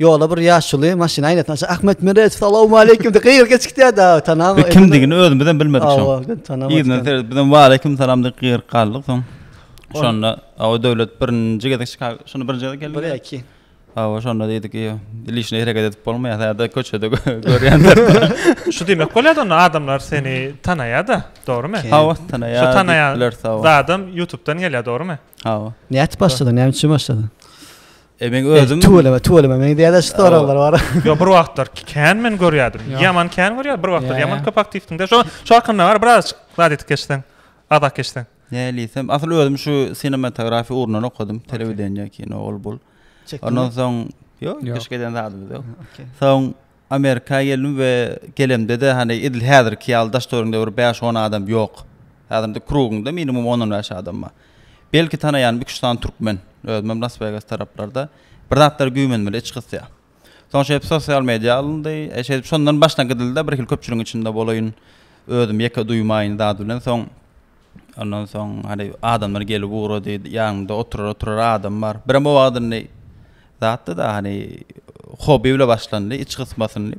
Ýolda bir ýaşuly maşyn aýnasyny açyp Ahmet Meredow salawmaleýkim diýip gygyryp geçip gitýärdi. Aw, tanap. Biz kimdigini özümiz hem bilmedik şoň. Aw, gyn tanap. Yzyna seredip biz hem waleýkim salam diýip gygyryp galdyk soň. Şonda aw döwlet birinji gezek Çikago, şonda birinji gezek geldi. Bile iki. Aw, şonda diýdik, ýa liçni hereket edip bolmaýar, häzirde köçede görýänler. Şu diýmek bolýar-da onda adamlar seni tanaýar-da, dogrumy? Aw, tanaýar. Şu tanaýan adam YouTube-dan gelýär, dogrumy? Aw. Nädip başladyň? Näme üçin başladyň? E men özüm tüweleme tüweleme men diýäde şu soraglar bar. Yo bir wagtlar kän men görýärdim. Ýaman kän görýär bir wagtlar ýaman köp aktiwdiňde. Şo şo hakynda bar biraz zat etip geçseň. Azak geçseň. Näliýsem asyl özüm şu sinematografiýa ugrundan okadym. Telewideniýe kino ol bul. Ondan soň yo keşke eden zadymyz ýok. Soň Amerika geldim we gelemde-de hany edil häzirki ýaly daş-töweregiňde bir bäş-on adam ýok. Häzir indi krugyňda minimum on-on bäş adam bar. Belki tanaýanym iki-üç sany türkmen. Özümem Las-Wegas taraplarda bir zatlar güýmenmeli iç gysýar. Soň şeýdip sosial media alyndy. Şeýdip şondan başdan gidildi-de birhili köpçüligiň içinde bolaýyn, özümi ýeke duýmaýyn zat bilen. Soň. Ondan soň hany adamlar gelip ugrady. Ýanynda oturar-oturar adam bar. Birem o wagt indi zatda-da hany hobi bile başlandy, iç gysmasynly.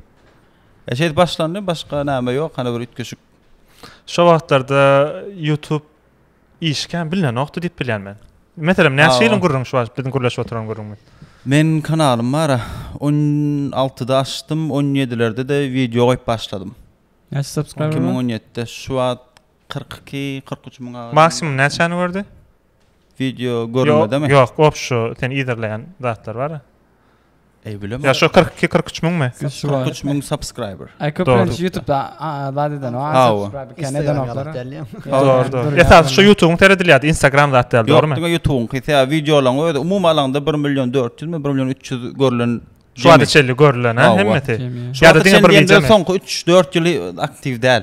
E şeýdip başlandy, başga näme ýok, hany bir üýtgeşik. Şo wagtlarda YouTube işi kän bilinenokdy diýip bilýän men. Meselem, näçe ýylyň gürrüňi şu wagt biziň gürleşip oturan gürrüňimiz? Meniň kanalym bar-a. On altyda açdym, on ýedilerde-de wideo goýup başladym. Näçe subscriber bar? Iki müň on ýedide. Şu wagt Kyrk iki, kyrk üç müň arasynda. Maksimum näçäni gördi? Wideo görülmedemi? Ýok, ýok, şu sen yzarlaýan zatlar bar-a. Eý, bilemok. Ýa şu kyrk iki, kyrk üç müňmi? Kyrk üç müň subscriber. Aý, köplenç YouTube-da zat eden, a subscribe kän edenoklar. Dogry, dogry. Esasy şu YouTube-yň seredilýärdi, Instagram zat däl, dogrymy? Ýok, diňe YouTube-yňky, sebäbi wideolaryň özi umumy alanda bir million dört ýüzmi, bir million üç ýüz görlen. Şu wagta çenli görlen-ä hemmesi. Ýa-da diňe bir wideomy? Soňky üç, dört ýyly aktiw däl.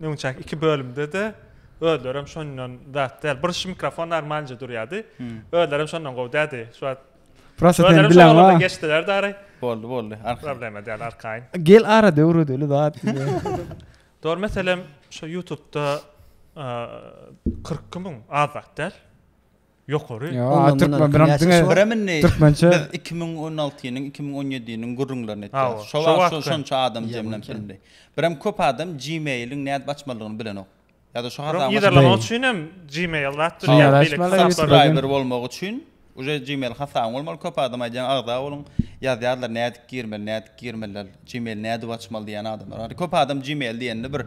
Öňçäki iki bölümde-de özlerem şondan zat däl. Bir şu mikrofon normalnje durýardy. Özlerem şondan gowy däldi. Şu wagt Prosta sen bilen wa. Geçdiler dary. Boldy, boldy. Arkaýyn. Problema däl, arkaýyn. Gel ara döwredeli zat. Dor meselem şu YouTube-da 42 müň az zat däl. Ýokary. Ýa türkmen bilen diňe türkmençe. Biz iki müň on altynyň, iki müň on ýediniň gürrüňlerini etdik. Şo wagt şonça adam jemlenip bildi. Birem köp adam Gmail-iň nädip açmalydygyny bilenok. Ýa-da şu hasaby. Yzarlamak üçin hem Gmail zat durýar. Beýleki hasaplar. bolmak üçin uje Gmail hasabyň bolmaly. Köp adam aýdýar agza boluň. Ýazýarlar nädip girmeli, nädip girmeli. Gmail nädip açmaly diýýän adamlar bar. Köp adam Gmail diýende bir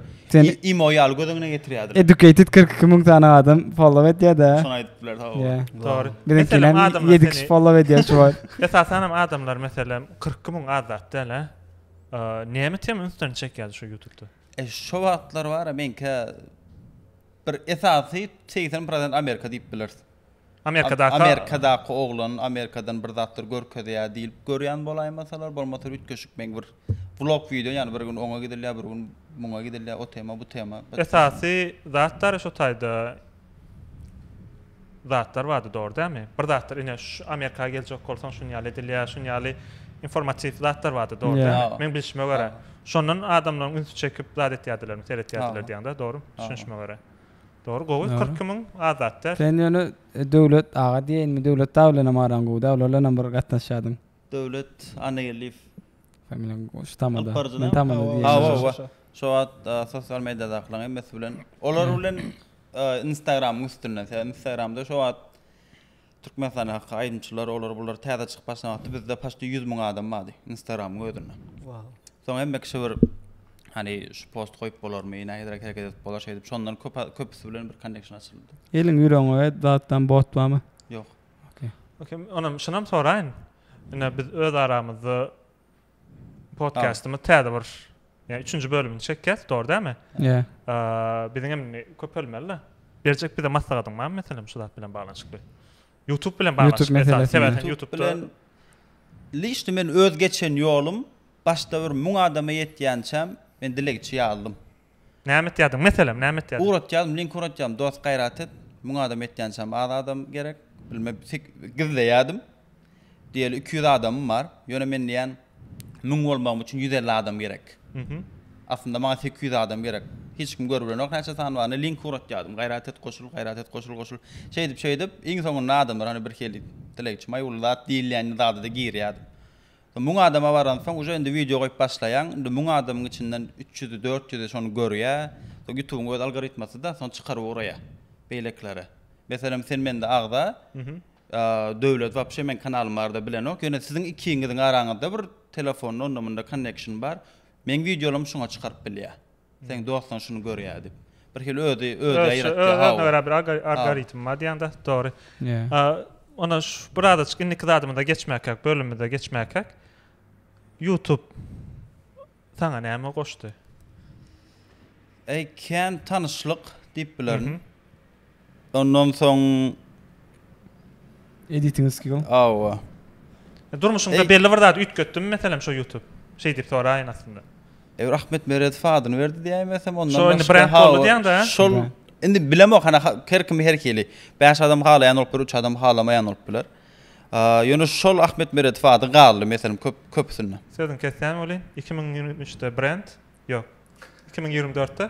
imo ýaly göz öňüne getirýärdiler. Educated kyrk iki müň sany adam follow edýärda. Şony aýdyp biler sag bol. Dogry. Meselem adamlar ýedi kişi follow edýär şu wagt. Esasan hem adamlar meselem kyrk iki müň az zat däl a. Näme tema ünslerini çekýärdi şu ýutubda? E şo wagtlar bara meňkä bir esasy segsen prosent Amerika diýip bileris. Amerikadaky. Amerikadaky oglan Amerikadan bir zatlar görkezýär diýlip görýän bolaýmasalar, bolmasa üýtgeşik meň bir vlog wideo, ýagny bir gün oňa gidilýär, bir gün muňa gidilýär, o tema, bu tema. Esasy zatlar şu taýda zatlar bardy dogry dälmi? Bir zatlar ine şu Amerika geljek bolsaň şun ýaly edilýär, şun ýaly informatiw zatlar bardy dogry dälmi? Meň bilşime görä. Şondan adamlaryň ünsi çekip zat etýärdilermi, seretýärdiler diýýäňdä, dogrumy düşünişime görä? Dogry gowy kyrk iki müň azat däl. Sen ýöne Döwlet aga diýeýinmi Döwlet dagy bilenem araň gowy däl olar bilenem bir gatnaşýadyň. Döwlet Annageldiýew. Familiýaň şu tamada. Alyp baryjyny. Men tamada diýýän. Hawa hawa şo wagt sosial mediýadakylaň hemmesi bilen olar bilen instagramyň üstünden sebäbi instagramda şo wagt Türkmenistanda haky aýdymçylar olar bular täze çykyp başlan wagty bizde paçti ýüz müň adam bardy instagramyň özünde. Soň hemme kişi bir hani şu post goýup bolarmy nähiliräk hereket edip bolar şeýdip şondan köp köpüsi bilen bir konneksiýon açyldy. Eliň ýüregiňe we datdan bot barmy? Ýok. Okey. Okey onam şunam soraýyn. Ine biz öz aramyzda Podkastymyz täze bir ýa üçünji bölümini çekýäs, dogry dälmi? Ýa. Biziň hem köpelmeli. Berjek bize maslahatyň barmy meselem şu zat bilen baglanyşykly? YouTube bilen baglanyşykly. Sebäbi YouTube bilen lişni men öz geçen ýolum başda bir müň adama ýetýänçäm men dilegçi ýazdym. Näme etýädiň? Meselem, näme etýädiň? Ugratýadym, link ugratýadym, dost gaýrat et, müň adam etýänçäm az adam gerek, bilme sek gizleýädim, diýeli iki ýüz adamym bar, ýöne men diýýän, müň bolmagym üçin ýüz elli adam gerek. Aslynda maňa seki ýüz adam gerek. Hiç kim görübilenok näçe sany baryny, link ugratýadym, gaýrat et, goşul, gaýrat et, goşul, goşul. Şeýdip, şeýdip, iň soňunda adamlar, hany birhili, dilegçi, maý uly zat diýilýän zada-da girýädim. Müň adama baransoň uje indi wideo goýup başlaýaň indi müň adamyň içinden üç ýüzi dört ýüzi şony görýä soň ýutubyň öz algoritmasyda soň çykaryp ugraýa beýlekilere meselem sen mende agza Döwlet wapşe meň kanalym barada bilenok ýöne siziň ikiňiziň araňyzda bir telefonda onda munda konnekşin bar meň wideolarymy şuňa çykaryp bilýä. Seň dostlaň şuny görýä dip. Bir hili özi özi ýaýratýa haw. Özüne görä bir algoritm bar diýäňde dogry. Onda şu bir azaçyk indiki zadymyza geçmäkäk, bölümimize geçmäkäk. Youtube saňa näme goşdy? Ekän tanyşlyk diýip bilerin. Ondan soň. Editing skill. Hawa. Durmuşyňda belli bir zady üýtgetdimi meselem şo ýutup? Şeý diýip soraýyn aslynda. Ew Ahmet Meredow adyny berdi diýäýmesem ondan başga. Şo indi brend boldy diýäň dä. Şol indi bilemok hany her kimi her hili. Bäş adam halaýan bolup biler, üç adam halamaýan bolup biler. Ýöne şol Ahmet Meredow ady galdy meselem köp köpüsinde. Sözüňi kesýän welin, iki müň ýigrimi üçde brend, ýok, iki müň ýigrimi dörtde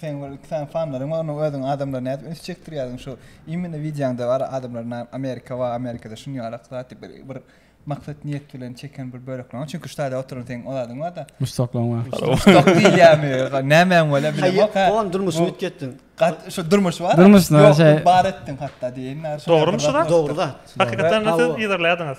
Seň bir iki sany fanlaryň bar, onuň özüň adamlary nädip üns çekdirýärdiň şu imine wideoňda bar adamlar na Amerika wa Amerikada şuny ýalak zat diýip bir bir maksat niýet bilen çeken bir bölekleň çünki ştaýda oturan seň ol adyň barda. Muşdaklaň bar. Muşdaklyk diýilýärmi ýa nämäň bolýar bilemok ha. Oň durmuşyny üýtgetdiň. Gat şu durmuş bar. Durmuşyny bar şeý. Bar etdiň hatda diýeýin. Dogrymy şu zat? Dogry zat. Hakykatdan da siz yzarlaýardyňyz.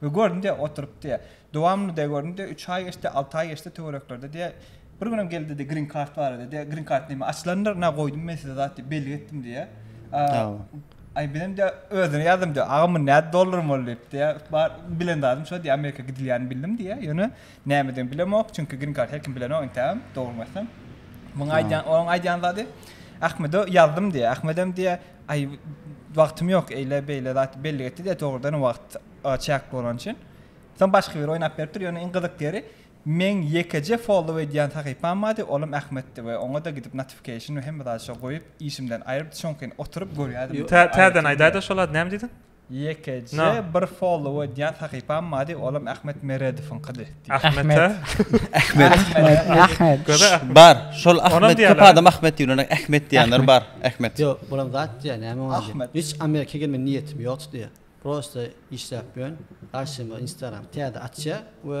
We göründi-de, oturypdy. Dowamly-da göründi, üç aý geçdi, alty aý geçdi, töwereklerde diýýär, Bir günem geldi diýdi, Green Card barada diýýär, Green Card näme, açylandyr, ynha goýdum men size zat diýip, bellik etdim diýýär. Aý bizem diýýär, özüne ýazdym diýýär, Agam bu nädip dollaryň boldy diýip diýýär, bar bilen zadym şo diýýär, Amerika gidilýänini bildim diýýär, ýöne nämedigini bilemok, çünki Green Card her kim bilenok entägem, dogrymy aýtsam. Muňa aýdýan, onuň aýdýan zady, Ahmede ýazdym diýýär, Ahmedem diýýär, Aý, wagtym ýok, eýle-beýle zat bellik etdi-de, dogrudanam wagt çäkli bolany üçin. Soň başga biri oýnap beripdir, ýöne iň gyzyk ýeri, meň ýekeje follow edýän sahypam bardy, olam Ahmetdi we oňa-da gidip notification we hemme zady şo goýup, işimden aýryp, çuňkyn oturyp görýärdim. Täzeden aýdaýda şol zady, näme diýdiň? Ýekeje bir follow edýän sahypam bardy, olam Ahmet Meredowyňkydy. Ahmete? Ahmet. Bar, şol Ahmet köp adam Ahmet diýilende Ahmet diýenler bar. Ahmet. Ýok, bulam zat diýýär, näme oňa diýýär. Ahmet. Hiç Amerika gelme niýetim ýokdy diýýär. Prosta işläp ýörün. Garşyma Instagram täze açýar we.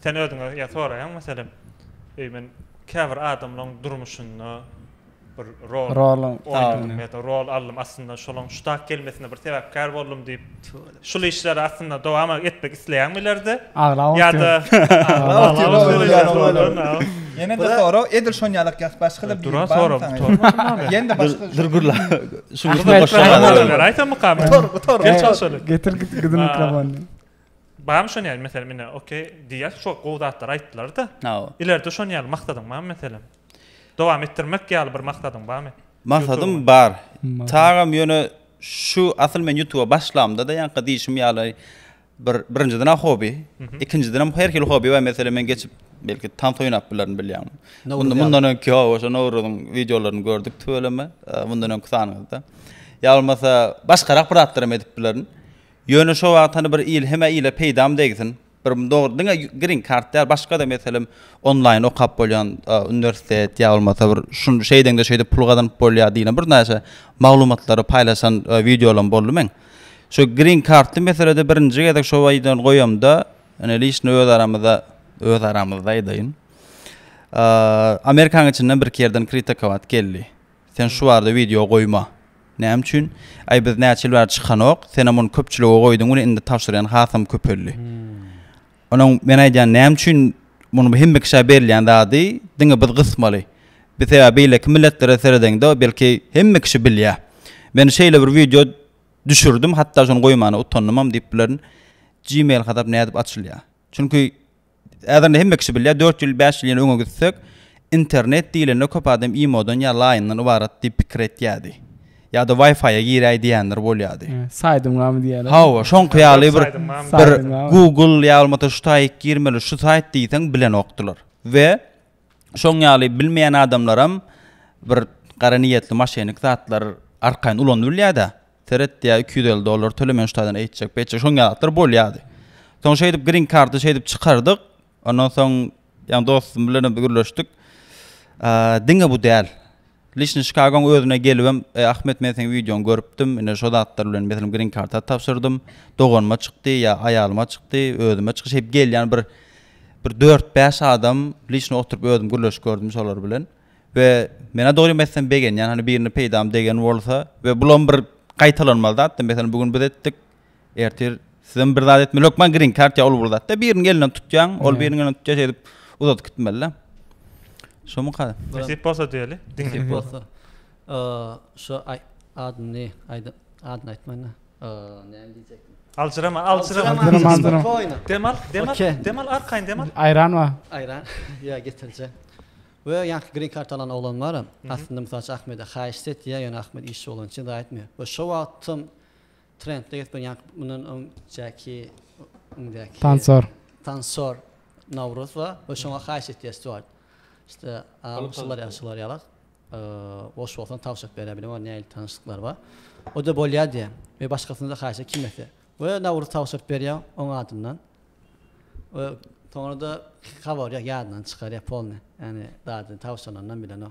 Sen özüňe ýa soraýaň meselem, eý men käbir adamlaň durmuşynda bir rol oýnadym ýa-da rol aldym, aslynda şolaň şu tak gelmesine bir sebäpkär boldum diýip, şul işleri aslynda dowam etmek isleýäňmi ileride? Aglaba ýa-da Ýene-de sorag, edil şon ýalak ýa-da başga-da bir ýa-da başga bir gürle şuň üstüne goşýan. Aýta mukam. Getir gidin mikrofony. Barmy şon ýaly meselem ine okey diýýäs şo gowy zatlary aýtdylarda. Hawa. Ileride şon ýaly maksadyň barmy meselem? Dowam etdirmek ýaly bir maksadyň barmy? Maksadym bar. Tagam ýöne şu asyl men ýutuba başlamda-da ýaňky diýşim ýaly bir birinjiden-ä hobi. Ikinjidenem her hili hobi bar meselem men geçip belki tans oýnap bilerin bilýäňmi. Mundan mundan öňki ýok oşo Nowruzyň wideolaryny gördük tüweleme mundan öňki sanyňyzda. Ýa bolmasa başgarak bir zatlaram edip bilerin. Ýöne şo wagt hany bir il hemä ile peýdam degsin. Bir dogry diňe green card däl başgada meselem onlaýyn okap bolýan uniwersitet ýa bolmasa bir şu şeýdeňde şeýdip pul gazanyp bolýar diýlen bir näçe maglumatlary paýlaşan wideolam boldy meň. Şu green cardly meselede birinji gezek şo wideony goýamda ine lişni öz aramyzda öz aramyzda aýdaýyn. Amerikanyň içinden birki ýerden kritikowat geldi. Sen şu barada wideo goýma. Näme üçin? Aý biz näçe ýyl bäri çykanok, senem ony köpçülige goýduň we indi tabşyrýan hasam köpeldi. Onuň men aýdýan näme üçin muny bu hemme kişä berilýän zady diňe biz gysmaly. Biz sebäbi beýleki milletlere seredeňde belki hemme kişi bilýä. Men şeýle bir wideo düşürdim hatda şony goýmana utandymam diýip bilerin. Gmail hasap nädip açylýa? Çünki Häzirem hemme kişi bilýär, dört ýyl, bäş ýyl ýene öňe gitsek, internet diýlende köp adam imodan ýa laýyndan ybarat diýip pikir etýärdi. Ýa-da Wi-Fi-a giräý diýenler bolýardy. Saýdyň barmy diýýärdi. Hawa, şoňky ýaly bir bir Google ýa bolmasa şu saýt girmeli, şu saýt diýseň bilenokdylar. We şoň ýaly bilmeýän adamlaram bir gara niýetli maşenik zatlar arkaýyn ulanyp bilýärdi seret diýä iki ýüz elli dollar töle men şu taýdan eýtjek beýtjek şoň ýaly zatlar bolýardy soň şeýdip grin karty şeýdip çykardyk ondan soň ýa dostum bilenem gürleşdik diňe bu däl Liçni Çikagoň özüne gelibem, Ahmet men seň wideoňy görüpdim, ine şo zatlar bilen meselem grin karta tabşyrdym, doganyma çykdy ýa aýalyma çykdy, özüme çykyş edip gelýän bir bir dört bäş adam liçni oturyp özüm gürleşip gördüm şolar bilen we menä dogrymy aýtsam begenýän hany birine peýdam degen bolsa we bulam bir gaýtalanmaz zat da meselem bu gün biz etdik Ertir sizem bir zat etmeli. Hökman green card ya ol bir zatda biriniň elinden tutýaň, ol biriniň elinden tutýa şeýdip uzadyp gitmeli-de. Şomy ka? Nesip bolsa diýeli. Nesip bolsa. Şu adyny aýdyp, adyny aýtmaýyn-da. Näme diýjekdim? Aljyrama, aljyrama. Demal, demal, demal arkaýyn demal. Aýran bar. Aýran. Ýa getirjek. We ýaňky green card alan oglan bar-a, aslynda mysal üçin Ahmede haýyşt etýär, ýöne Ahmet işçi bolany üçin zat aýtmaýar. We şo wagtam Trendde ýetmän ýaňky mundan öňjäki öňdäki Tansor. Tansor Nawruz we we şoňa haýyş etýär Stuart. İşte şular ýa şular ýalak. Boş bolsan tawşak bere bilen we näil tanyşlyklar bar. O da bolýar diýär. Ve başgasyny da haýyş kim etse. Ve Nawruz tawşak berýär oň adyndan. Ve soňra da gabarýar ýadyndan çykarýar polny. Ýani dady tawşanyndan bilen o.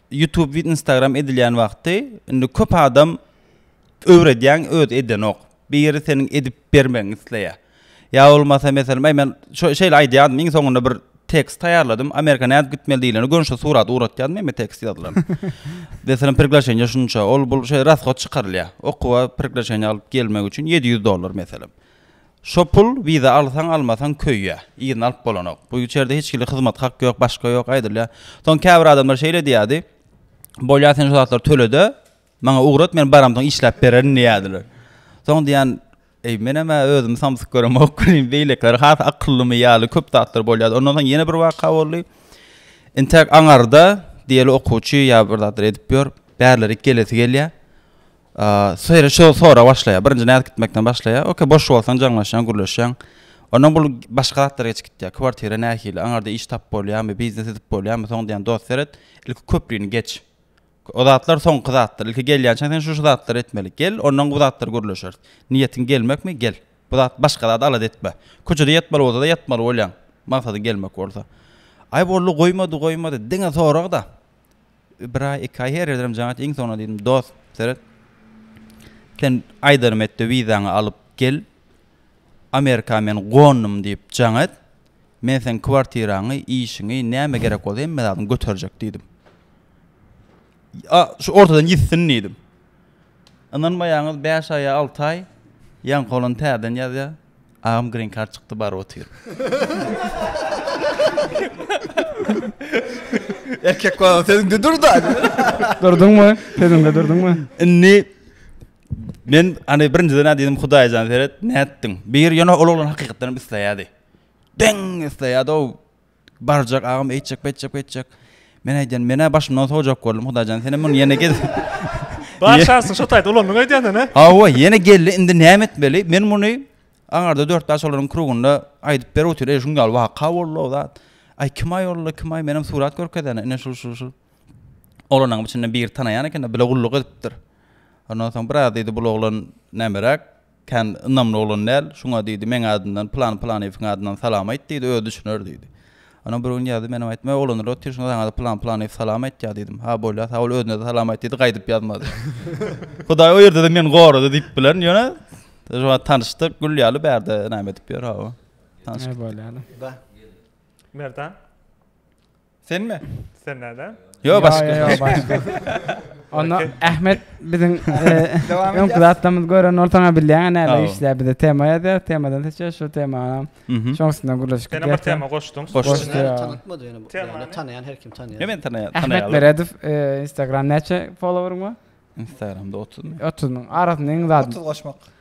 Youtube we Instagram edilýän wagty indi köp adam öwredýäň özi edenok. Biri seniň edip bermegiňi isleýär. Ýa bolmasa meselem aý men şo şeýle aýdýardym iň soňunda bir tekst taýýarladym. Amerika nädip gitmeli diýlende göni şo surat ugratýardym ýeme tekst ýazylan. Meselem priglaşenýe şunça ol bul şeý rasgod çykarylýar. Okuwa priglaşenýe alyp gelmek üçin ýedi ýüz dollar meselem. Şo pul wiza alsaň almasaň köýýä. Yzyny alyp bolanok. Bu içerde hiç hili hyzmat hak ýok başga ýok aýdylýa. Soň käbir adamlar şeýle diýýädi. Bolýa sen şo zatlary tölede maňa ugrat men baramsoň işläp bererin diýýädiler. Soň diýýän eý menemä özümi samsyk göremok welin beýlekiler has akyllymy ýaly köp zatlar bolýady. Ondan soň ýene bir waka boldy. Intäk aňarda diýeli okuwçy ýa bir zatlar edip ýör. Bärlerik gelesi gelýä. Şeýle şo sorag başlaýar. Birinji nädip gitmekden başlaýar. Okey, boş bolsaň jaňlaşýaň, gürleşýäň. Ondan bul başga zatlara geçip gitýär. Kwartira nähili? Aňarda iş tapyp bolýarmy? Biznes edip bolýarmy? Soň diýýän dost seret. Ilki köprini geç. O zatlar soňky zatlar. Ilki gelýänçäň sen şu-şu zatlary etmeli. Gel, ondan bu zatlary gürleşeris. Niýetiň gelmekmi? Gel. Bu zat başga zada alada etme. Köçede ýatmaly bolsa-da ýatmaly bolýaň. Maksadyň gelmek bolsa. Aý boldy, goýmady, goýmady. Diňe sorag-da. Bir aý, iki aý, her ýerdenem jaň et, iň soňuna diýdim, dost, seret, sen aýdanym et-de, wizaňy alyp gel, Amerika men gondum diýip jaň et, men seň kwartiraňy, işiňi, näme gerek bolsa hemme zadyňy göterjek diýdim. A, şu ortadan ýitsin diýdim. Ynanmaýaňyz bäş aý ýa alty aý ýaňky oglan täzeden ýazýar agam green card çykdy baryp otyr. Erkek bolan sözüňde durda. Durduňmy? Sözüňde durduňmy? Indi men hani birinjiden näde diýdim hudaýjan seret nätdiň. Bir ýöne ol oglan hakykatdanam isleýärdi. Deň isleýärdi o Barjak agam eýtjek beýtjek beýtjek. Men aýdýan menä başymdan sowjak boldum hudaýjan senem muny ýene gez. Bar şansyň şo taýda ulandyň aýdýanda nä? Hawa ýene geldi indi näme etmeli men muny aňarda dört bäş olaryň krugunda aýdyp berip otyr eý şuňňal waka boldy o zat aý kim aý olly kim aý menem surat görkezene ine şul şul şul olanyň içinde biri tanaýan ekende bile gulluk edipdir ondan soň biraz diýdi bul oglan nämeräk Kän ynamly oglan däl, şuňa diýdi, meň adymdan Pylan-Pylanyýewiň adyndan salam aýt diýdi, özi düşüner diýdi. Onam bir gün ýazdy, menem aýtdym, Öý oglanlar, otur, şunda saňa-da Pylan-Pylanyýew salam aýtýar diýdim. Ha, bolýar, sag bol, özüne-de salam aýt diýdi, gaýdyp ýazmady. Hudaý o ýerde-de meni gorady diýip bilerin, ýöne, şuwagt tanyşdyk, gül ýaly bärde näme edip ýör, hawa. Tanyşdyk. Näme bolýar? Merdan? Senmi? Sen näde? Yo başga. Yo yo başga. Onda Ahmet biziň öňki zatlarymyzy gören bolsaň bilýän näme işleýär bize tema ýazýar temadan seçýär şu temany şoň üstünden gürleşip gitýär. Ýene bir tema goşduň. Goşdum. Tanatmady ýene bu. Temany tanaýan her kim tanaýar. Hemen tanaýar. Ahmet Meredow Instagram näçe followeryň bar? Instagramda 30 müň. 30 müň. Arasynda iň zady. 30 goşmak.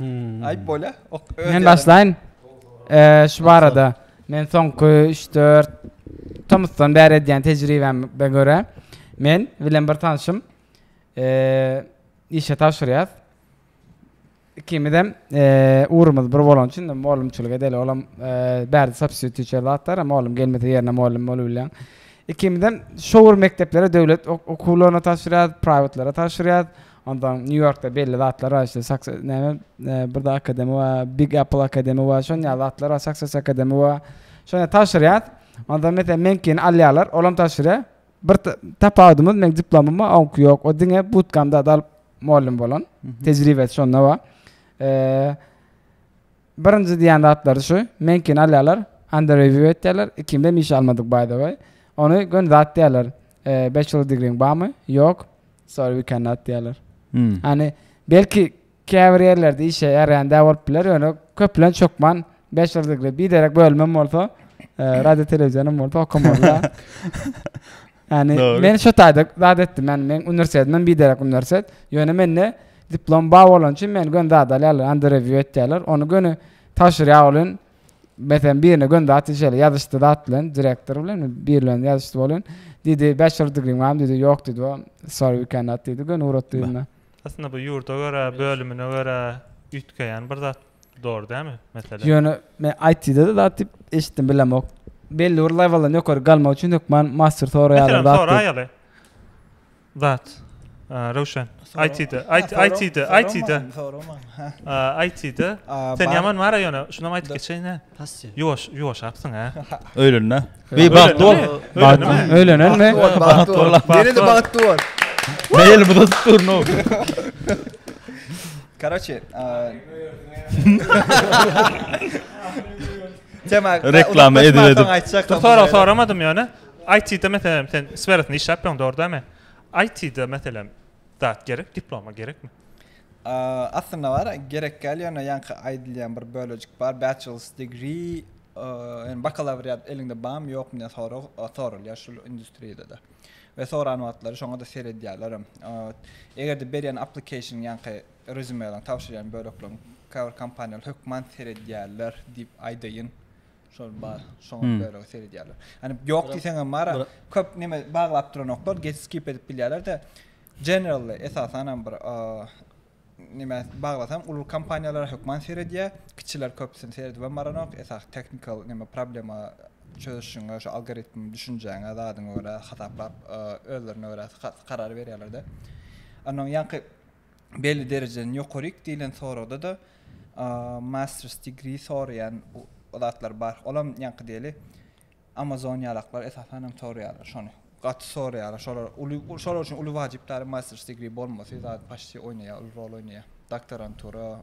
Aýyp bolýa. Men başlaýyn. Eee şu barada men soňky 3-4 tomusdan bäri edýän tejribäme görä men bilen bir tanşym eee işe tabşyrýas. Ikimizem eee ugrumyz bir bolan üçin mugallymçylyk edeli. Olam eee bärde substitut teacher zatlar, mugallym gelmese ýerine mugallym bolubilýän. Ikimizem şowur mekdeplere döwlet okuwlaryna tabşyrýas, prýwatlara tabşyrýas. Onsoň New Yorkda belli zatlar bar işte Success näme birde akademi bar Big Apple akademi bar şon ýaly zatlar bar Success akademi bar şonda tabşyrýas onda meselem meňkini alýarlar olam tabşyrýar bir tapawudymyz meň diplomym bar oňki ýok o diňe butkamda alyp mugallym bolan tejribesi şonda bar Birinji diýen zatlary şu, meňkini alýarlar, under review etýärler, ikimde hem iş almadyk by the way. Ony göni zat diýýärler. Bachelor digriň barmy? Ýok. Sorry we cannot diýýärler. Ýani belki käbir ýerlerde işe ýaraýan däl bolup biler, ýöne köplenç hökman bachelor degree, biderek bölümem bolsa, radio telewizionyň bolsa okamalyda. Yani Doğru. men şu taýda zat etdim. Yani men üniversitedim, men biderek üniversitet. Ýöne mende diplom bar bolan üçin men gön zat alýarlar, under review etýärler. Onu göni tabşyrýar bolun. Mesela birine gön zat işele ýazyşdy zat bilen, direktor bilen bir bilen ýazyşdy bolun. Dedi, bachelor degree bar dedi, ýok dedi. O, sorry we cannot dedi. Gön urat dedim. Aslında bu ýurda görä, bölümine görä üýtgeýän bir zat. Dogry dämi mesele? Ýöne men IT-de zat diýip eşitdim bilemok. Belli bir lewelden ýokary galmak üçin hökman master soraýarlar zat. Meselem soraýaly. Zat. Röwşen. IT-de, IT-de, IT-de. IT-de. Sen ýaman mara ýöne, şunam aýdyp geçeýin-ä. Passy. Ýuwaş, ýuwaşapsyň-a. Öýlenme. Beý bagtly bol. Öýlenme. Öýlenenmi? Bagtly bol. Ýene-de bagtly bol. Meý elimi tutup durnuň. Karoçe, Tema Reklama edip edip. Aýtjakdyň. Sorag soramadym ýöne. IT-de meselem sen sferasynda işläpdiň dogry dämi? IT-de meselem zat gerek, diploma gerekmi? Aslynda bar, gerek däl, ýöne ýaňky aýdylýan bir bölejik bar, bachelor's degree, bakalawriat eliňde barmy, ýokmy diýen sorag soralýar şul industriýada-da we soran wagtlary şoňa-da seredýärlerem. Eger-de berýän application ýaňky rezýumelaň, tabşyrýan bölekleriň käbir kompaniýalar hökman seredýärler diýip aýdaýyn. Şol bar. Şoňa hmm. görä seredýärler. Ýani ýok diýseň hem bar. Köp näme baglap duranoklar, geç skip edip bilýärler-de. Generally esasan hem bir näme baglasam uly kompaniýalar hökman seredýär. Kiçiler köpüsini seredip hem baranok. Esas technical näme problema çözüşüňe şu algoritm düşünjäňe zadyňa görä hasaplap özlerine görä karar berýärler-de. Annaň ýanky belli derejeden ýokaryk diýlen soragda-da Masters degree soraýan zatlar bar. Olam ýaňky diýeli Amazon ýalaklar esasan hem soraýarlar şony. Gaty soraýarlar. Şolar uly şolar üçin uly wajyp däl Masters degree bolmasy zat paşti oýnaýar, uly rol oýnaýar. Doktorantura,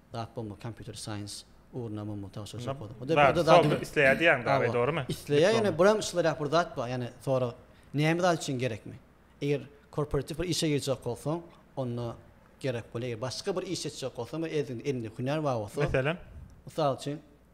Zat bolma kompýuter science ugruna mummy tagşyr şo poza. Hudaý bir zat zat isleýär diýýäň dagy dogrymy? Isleýär ýöne buram şylarak bir zat bar ýani sorag näme zat üçin gerekmi? Eger korporatiw bir işe girjek bolsaň onda gerek bolýar. Eger başga bir iş etjek bolsaň we elinde hünär bar bolsa. Meselem? Mysal üçin.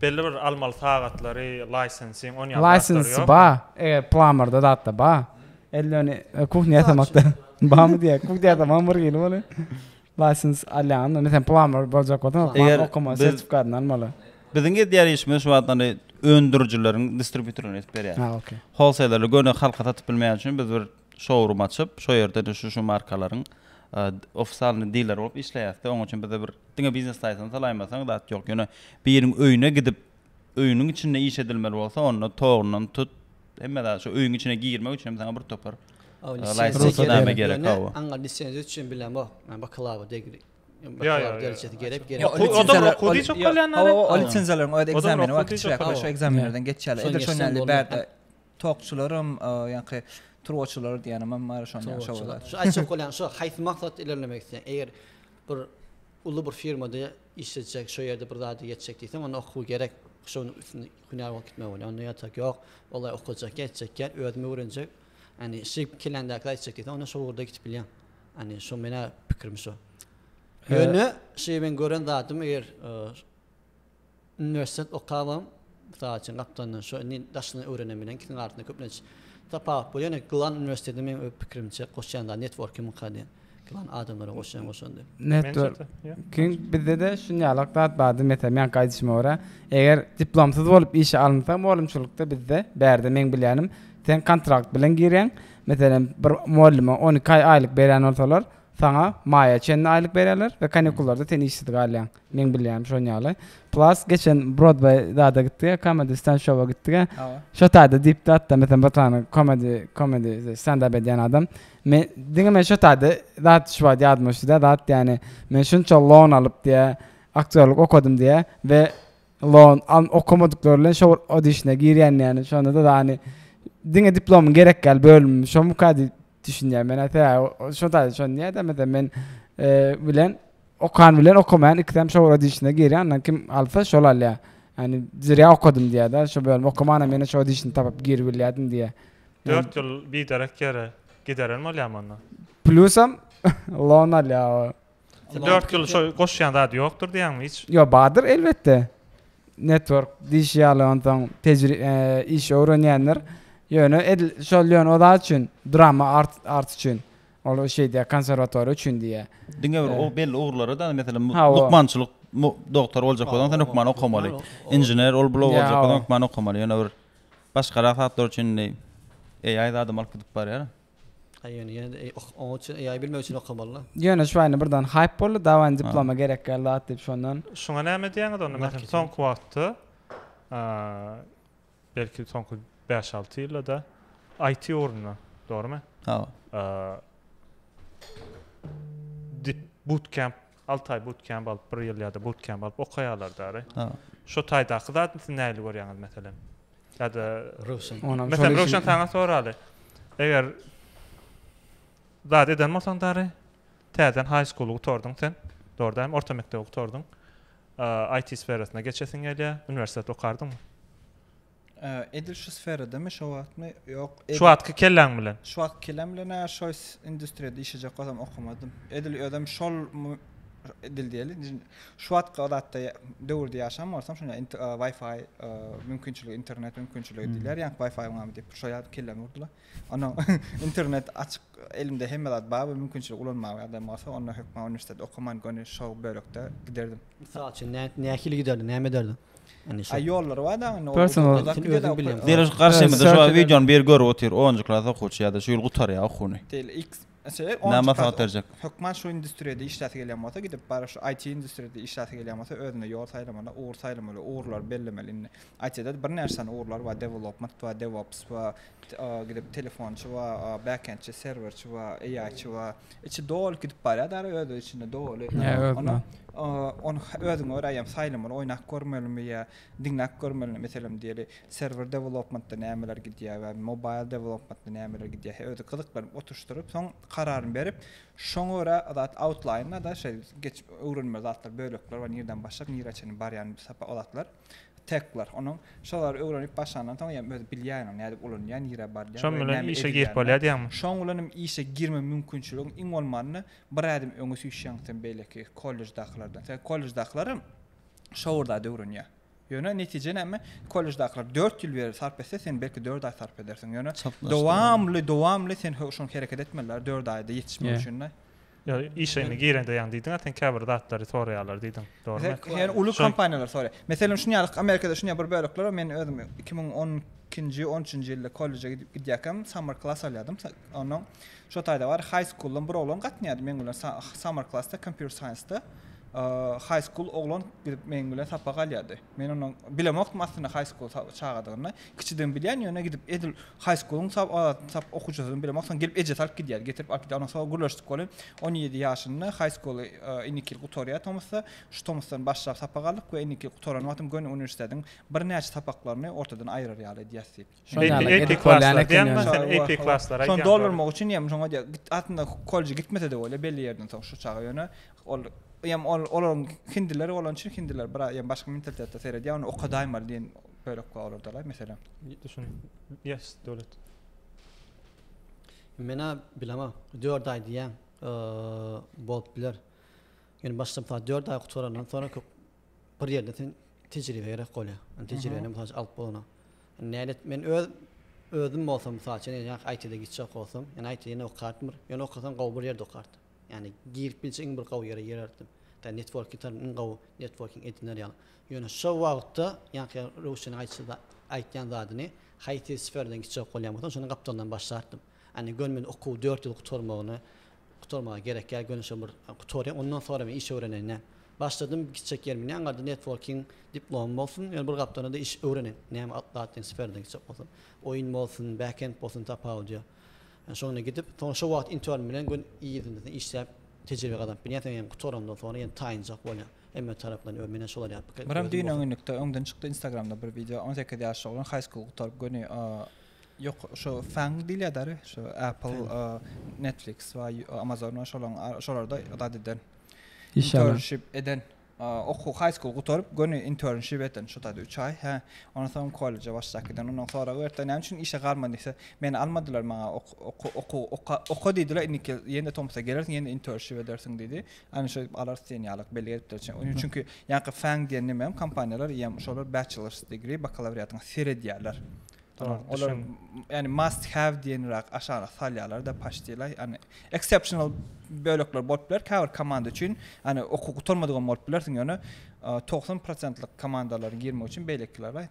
Belli bir almaly sagatlary, laýsensiň on ýaly zatlary ýok. License ba, eger plamarda zatda ba. Elde ony kuhnya ýasamakda bamy diýýä. Kuhnya ýasamagyň bir hili bolup. License alýaňyzda, meselem plamar boljak bolsaň, plamar okamaly sertifikatyny almaly. Biziň edýän işimiz şu wagtdan öndürijileriň distributerine edip berýäs. Holseylerle göni halka satyp bilmeýän üçin biz bir şourym açyp, şo ýerde de şu-şu markalaryň ofisalny diler bolup işleýäs-de, oň üçin bize bir diňe biznes saýtyny salaýmasaň zat ýok. Ýöne biriň öýüne gidip, öýüniň içinde iş edilmeli bolsa, onda togyndan tut, hemme zat, şu öýüň içine girmek üçin hem saňa bir topar rugsatnama gerek. Aňa lisenziýa üçin bilen bo, bakalawa degri. Ýa-ýa. Derejesi gerek, gerek. O da okuw diýip bolýanlary. O lisenziýalaryň o ekzameni wagtçylyk, şu ekzamenlerden geçýärler. Edil şonda bärde Tokçularam ýaňky turbaçylar diýenimem bar şonda ýaňky şowada. Şu aýtjak bolýan şu haýsy maksat ilerlemek isleýän eger bir uly bir firmada işlejek şu ýerde bir zada ýetjek diýseň onda okuw gerek şonuň üstünde hünär bolup gitmek bolýar onda ýatak ýok olay okajak ýetjek ýer özüm öwrenjek ýani şy kelländäki aýtjak diýseň onda şo ugurda gidip bilýäň ýani şo menä pikirim şo ýöne şy men gören zadym eger Uniwersitet okabam, mysal üçin, gapdalyndan şo indi daşyndan öwrenem bilen ikisiniň arasynda köplenç tapawut bolýar. Ýöne gylan uniwersiteti meň öz pikirimçe goşýan zady networkimgka diýen. Gylan adamlara goşýan goşandy. Networking bizde-de şunýalak zat bardy. Meselem, meňki aýdyşyma görä, eger diplomsyz bolup işe alynsaň mugallymçylykda bizde, bärde meň bilýänim, sen kontrakt bilen girýäň. Meselem, bir mugallyma on iki aý aýlyk berýän bolsalar, saňa maýa çenli aýlyk berýärler we kanikullarda sen işsiz galýaň. Meň bilýänim şon ýaly. Plus geçen Brodway zada gitdiga, Comedy Stand Show-a gitdiga. Şo taýda diýipdi hatda meselen bir sany komedi, komedi stand up edýän adam. Men diňe men şo taýda zat şu wagt ýadyma düşdi-de zat ýani men şunça loan alyp diýä, aktýorlyk okadym diýä we loan al okamadyklar bilen şo bir odişne girýän ýani şonda-da ýani diňe diplomyň gerek ýaly bölümim şomyka diýip. Düşünýän men aýt hä şo taýda şony diýäýdä meselem men bilen okan bilen okamaýan ikisem şo bir işine girýär andan kim alsa şol alýar ýani zerýa okadym diýýärde şo bölüm okamanam ýene şo işini tapyp girip bilýärdim diýýär dört ýyl biderek ýere gideren bolýarmy onda plusam lon alýar Dört ýyl şo goşýan zady ýokdur diýýäňmi hiç? Ýok, bardyr elbetde. Network diýşi ýaly onsoň tejri e, iş öwrenýänler. Ýöne edil şol ýöne o zat üçin, drama art art üçin. Ol şeýdýär, konserwatoriýa üçin diýýär. Diňe bir o belli ugurlara da, meselem, mu- Ha, o. lukmançylyk mu- doktor boljak bolsaň, sen hökman okamaly. Inžener, ol bula Ýa, boljak o. bolsaň, hökman okamaly. Ýöne bir başgarak zatlar üçin indi AI zadam alyp gidip barýar. Aý ýöne ýene-de eý ok oňa üçin AI bilmek üçin okamalyda. Ýöne şu aýna birden haýp boldy dawany diploma gerek gel zat diýip şondan. Şuňa näme diýýäňiz onda meselem soňky wagtda belki soňky bäş alty ýyldada IT ugrunda dogrymy? Hawa. Dip bootcamp Alty aý butkemp alyp, bir ýyl ýa-da butkemp alyp okaýarlar däri. Şo taýdaky zadyny siz nähili görýäňiz meselem? Ýa-da Röwşen. Meselem Röwşen saňa soraly. Eger zat eden bolsaň däri, täzeden haý skulu gutardyň sen. Dogry däl, orta mekdebi gutardyň. IT sferasyna geçesiň gelýär, uniwersitet okardyňmy? Edil şu sferadamy, şu wagtmy? Ýok. Şu wagtky kelläň bilen. Şu wagtky kelläň bilen näme şu industriýada işlejek bolsam okamadym. Edil özem şol edil diýeli. Şu wagtky o zatda döwürde ýaşan bolsam, şonda Wi-Fi mümkinçiligi, internet mümkinçiligi diýler, ýa Wi-Fi bar diýip, şo ýaly kellämi urdular. Ondan internet açyk, elimde hemme zat bar, mümkinçiligi ulanmaga adam bolsa, onda hökman uniwersitet okaman, göni şo bölekde giderdim. Mysal üçin, nähili giderdiň, näme ederdiň? Ay ýollary bar daň indi. Personal. Deriş garşymyzda şu wagt wideony biri görüp otyr. Onunjy klas okuwçy ýa-da şu ýyl gutarýar okuwyny. Tel X. Näme maslahat berjek? Hökman şu industriýada işläsi gelýän bolsa gidip baryp şu IT industriýada işläsi gelýän bolsa özüne ýol saýlamaly, ugur saýlamaly, ugurlary bellemeli indi. IT-de birnäçe sany ugurlar bar, development bar, devops bar, gidip telefonçy bar, backendçi, serwerçi bar, AI-çi bar. Içi doly gidip barýar da özü içinde doly. Onu onu özüň öräýem saýlamaly, oýnap görmelimi ýa diňläp görmelimi meselem diýeli. Server development-da nämeler gidýär we mobile development-da nämeler gidýär. Özü gyzyklanyp oturşdyryp, soň kararyny berip, şoňa görä zat outline-da şeý geçip öwrenmeli zatlar, bölekler bar, nirden başlap nirä çenli barýan sapaklar. Tekler. Onuň şo zady öwrenip başlandan soň hem özi bilýär ony nädip ulanýar, nirä barýar Şoň we bilen näme işe girip bolýar edilýänini. diýýäňmi? Şoň bilen hem işe girme mümkinçiligiň iň bolmanda bir ädim öňe süýşýäň sen beýleki kolleždakylardan. Sebäbi kolleždakylar hem şo bir zady öwrenýär. Ýöne netije näme? Kolleždakylar dört ýyl beri sarp etse, sen belki dört aý sarp edersiň. Ýöne Çaplaşdyrylan. dowamly, dowamly sen ho- şoňa hereket etmeli-dä, dört aýda ýetişmek Ýe. üçin-de. Ýa işiňe girende ýaňy diýdiň-ä sen käbir zatlary soraýarlar diýdiň, dogrumy? Hä, ýa uly kompaniýalar soraýar. Meselem, şuny ýaly Amerikada şuny ýaly bir bölekler bar, men özüm iki müň on ikinji, on üçünji ýylda kolleje gidip gidýärkäm summer klass alýardym, onnoň şo taýda bar high school-dan bir oglan gatnaýardy meň bilen summer klass-da kompýuter science-da high school oglan gidip meň bilen sapak alýardy. Men onuň bilemokdym aslynda haý skul sap çagadygyny. Kiçiden bilýän, ýöne gidip edil haý skuluň sap adatny sap okuwçysyny bilemok. Soň gelip ejesi alyp gidýärdi. Getirip alyp gidýär. Ondan soň gürleşdik welin on ýedi ýaşynda haý skuly indiki ýyl gutarýar tomusda. Şu tomusdan başlap sapak aldyk we indiki ýyl gutaran wagtym göni uniwersitetiň birnäçe sapaklaryny ortadan aýyrar ýaly edýäs diýip. Şony doldurmak üçin ýa şoňa diýýär, git aslynda kolleje gitmese-de bolýar, belli ýerden soň şu çaga ýöne ol ýam ol olaryň hindiler bolan üçin hindiler biraz ýa başga mentalitetde seredýär, ony okadaýmaly diýen bölek bar olarda-la mesele. Men-ä bilemok, dört aý diýýäň, bolup biler. Ýöne başda mysal dört aý gutarandan soňra köp bir ýerde sen tejribe gerek bolýar. Yani tejribeni mysal üçin alyp bolana. Nälet men öz özüm bolsam mysal üçin ýa IT-de gitjek bolsam, ýa IT-de ýene okardim bir. Ýa okasam gowy bir ýerde okardim. Ýani girip bilse iň bir gowy ýere girerdim. Da network ýitar iň gowy networking ediner ýaly. Ýöne şo wagtda ýaňky Röwşeniň aýtýan zadyny haýsy sferden gitjek bolýan bolsam şonuň gapdalyndan başlardym. Ýagny göni men okuw dört ýyl gutarmagyny gutarmaga gerek ýa göni şo bir gutarýan ondan soňra men iş öwreneýin näm. Başladym gitjek ýerim ýa garda networking diplomym bolsun ýa bir gapdalynda da iş öwreneýin näme atlatyn sferada gitjek bolsam. Oýun bolsun backend bolsun tapawudy ýok. Ýa şoňa gidip soň şo wagt intern bilen gön yzynda işläp tejribe gazanyp bilýän soň ýa gutarandan soňra ýa taýynjak bolýan hemme tarapdan öň menä şolar ýa pikir Myrat düýn öňňinlikde öňden çykdy instagramda bir wideo on sekiz ýaşly oglan haýskul gutaryp göni Ýok, şo Fang diýilýär däri, şo Apple, Netflix we Amazon we şolaň şolarda zat eden. Internship eden. Okuw high school gutaryp, göni internship eden şo taýda 3 aý. Hä, ondan soň kolleje başlap giden. Ondan sorag berdiler, näme üçin işe galman diýse, meni almadylar, maňa okuw oka, oka diýdiler, indiki ýene tomsa gelersiň, ýene internship edersiň diýdi. Ana şo alarys diýen ýaly belli beripdirler. Çünki ýaňky Fang diýen näme hem kompaniýalar, ýa şolar bachelor's degree, bakalawriatyňy seredýärler. Olar yani must have diýen rak aşagyna salýarlar da paşdylar. Yani exceptional bölekler bolup biler käbir komanda üçin. Yani oku gutarmadyk hem bolup bilersiň ýöne 90%lik e, komandalaryň girmek üçin beýlekiler bar.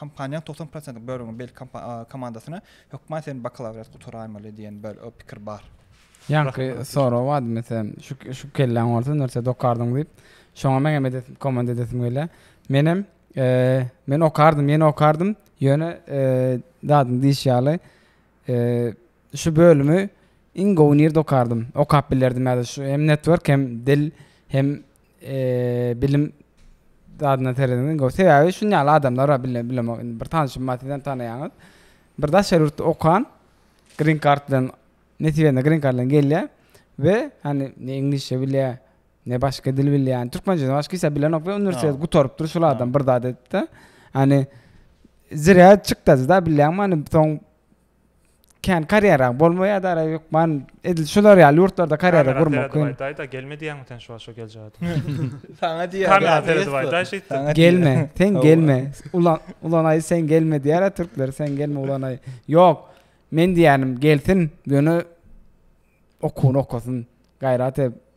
Kompaniýanyň 90%lik bölegini beýleki komandasyna hökman sen bakalawriat gutaraýmaly diýen bir pikir bar. Ýaňky sorag bardy meselem şu şu kelläň bolsa nirçe dokardyň diýip. Şoňa men hem edesim komanda edesim gelýär. Men hem Men okardym, ýene okardym, ýöne dadyň diýşi ýaly şu bölümi iň gowy nirde okardym, okap bilerdim ýa-da şu hem network hem dil hem bilim dadyna seredeniň gowy. Sebäbi şunuň ýaly adamlar bar bilemok indi bir tanyşym bar sizem tanaýaňyz. Bir daşary ýurtda okan green card bilen nesibende green card bilen gelýär we hany ne iňlisçe bilýär, Ne başga dil bilýän. Türkmençeden başga hiç bilenok we uniwersitet gutarypdyr şol adam bir zat edipde. Hani zirä çykdazy da bilýäňmi hani soň kän karýera bolmaýar da ara ýokman edil şular ýaly ýurtlarda karýera gurmak kyn. Daýda gelme diýýäňmi sen şu wagt şo geljek. Saňa diýýär. Kamera seret baý daý şeýtdi. Gelme, sen gelme. Ulan ulan aý sen gelme diýýär türkler sen gelme ulan aý. Ýok. Men diýýänim gelsin, ýöne okuwyny okasyn. Gaýrat edip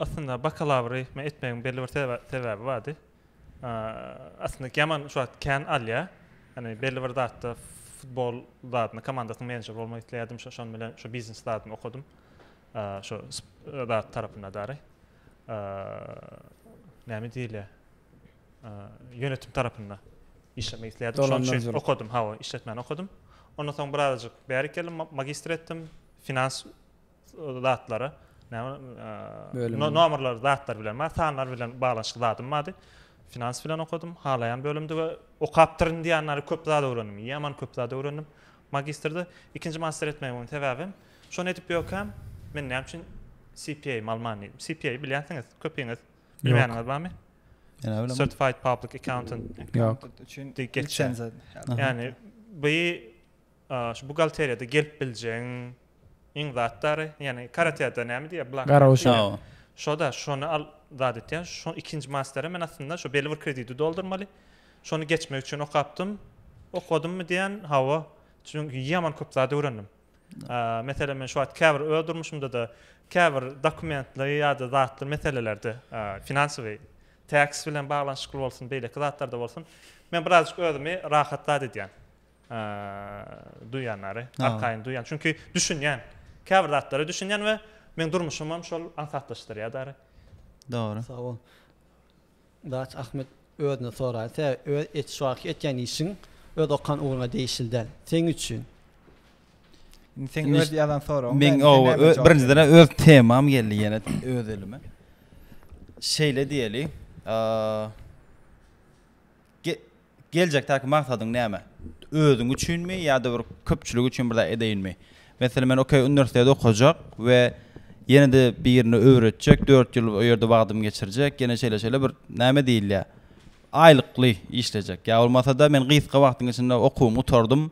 Aslynda bakalawry men etmegiň belli bir sebäbi bardy. Aslynda Keman şu wagt kän alýar. Ýani belli bir zatda futbol zadyny komandasynyň menejeri bolmak isleýärdim. Şo şonuň bilen şu biznes zadyny okadym. Şu zat tarapynda dary. Näme diýilýär? Ýönetim tarapynda işlemek isleýärdim. Şonuň üçin okadym. Hawa, işletmäni okadym. Ondan soň birazajyk bäri geldim, magistr etdim. Finans zatlara näme nomerler zatlar bilen bar sanlar bilen baglanyşykly zadym bardy finans bilen okadym halaýan bölümdi we okapdyryn diýýänleri köp zat öwrendim ýaman köp zat öwrendim magistrde ikinji master etmegimin sebäbim şony edip ýökäm men näme üçin CPA malman diýdim CPA bilýänsiňiz köpiňiz bilmeýäniňiz barmy Certified Public Accountant Yok. Geçen zaten. Yani bu Şu buhgalteriýada gelip biljegiň iň zatdary, ýagny karateda näme diýýär, blank Gara guşak. diýýär. Hawa. Şo-da, şony al zat etýär. Şo ikinji masterem men aslynda şo belli bir krediti doldurmaly. Şony geçmek üçin okapdym. Okadymy diýen, hawa. Çünki ýaman köp zat öwrendim. Meselem, men şu wagt käbir öz durmuşymda-da käbir dokumentleri ýa-da zatly meselelerde, finansowy, tax bilen baglanyşykly bolsun, beýleki zatlarda bolsun, men birazajyk özümi rahat zat edýän. duýýanlary, arkaýyn duýýan. Çünki düşünýän. Käbir zatlara düşünýän we meň durmuşymam şol aňsatlaşdyrýar däri. Dogry. Sag bol. Daç Ahmet özüne soraý. Tä öz et şu wagtky etýän işiň öz okan ugruňa degişli däl. Seň üçin. Indi seň öz ýazan soragyň. Meň birinjiden öz temam geldi ýene öz elime. Şeýle diýeli. Aaa. Geljekdäki maksadyň näme? Özüň üçinmi ýa-da bir köpçülik üçin bir zat edeýinmi? Meselem, men okey uniwersiteti okajak we ýene-de birine öwretjek, dört ýyl o ýerde wagtymy geçirjek, ýene şeýle-şeýle bir näme diýilýär, aýlykly işlejek. Ýa bolmasa-da men gysga wagtyň içinde okuwymy gutardym.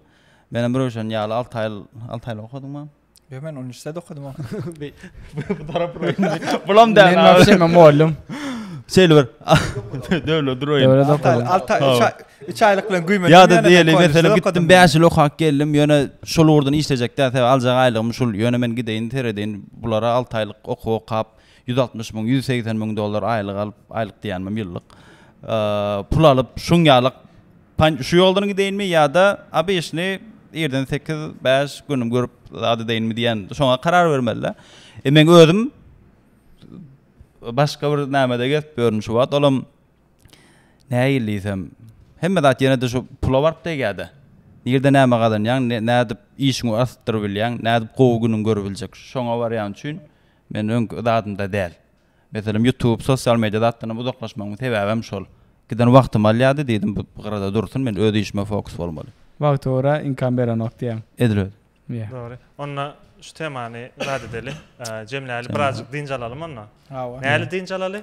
Menem Röwşen ýaly alty aýl, alty aýlap okadyňmy? Yo men 13-de de okudum. Bu taraf bulam da. Men wapşe men muallym. Şeýle bir döwlet durayyn. Döwlet okudum. 3 aýlyk bilen güýmendim. Ya da diýeli meselem gitdim 5 ýyl okap geldim. Ýöne şol ugurdan işlejek däl. Sebäbi aljak aýlygym şul. Ýöne men gideýin seredeýin bulara 6 aýlyk okuw okap 160 müň 180 müň dollar aýlyk alyp aýlyk diýänim ýyllyk. Pul alyp şuň ýalyk Panj şu ýoldan gideýinmi ýa-da ABŞ-ny irden sekiz, bäş gün görüp zat edeýinmi diýen şoňa karar bermeli-dä. E meň özüm başga bir nämede gezip ýörün şu wagt, olam nähili diýsem, hemme zat ýene-de şu pula baryp degýär-dä. Nirde näme gazanýaň, nädip işiňi artdyryp bilýäň, nädip gowy günüňi görüp biljek, şoňa barýan üçin men öňki zadymda däl. Meselem ýutub, sosial media zatlaryndan uzaklaşmagyň sebäbi hem şol. Giden wagtymy alýardy, diýdim bu gyrada dursun, men öz işime fokus bolmaly. Wagty ora inkam berenok diýýäň. Edil özi. Ýe. Dogry. Onda şu temany zat edeli, jemläli, birazjyk dynç alalymy onda? Hawa. Näli dynç alaly?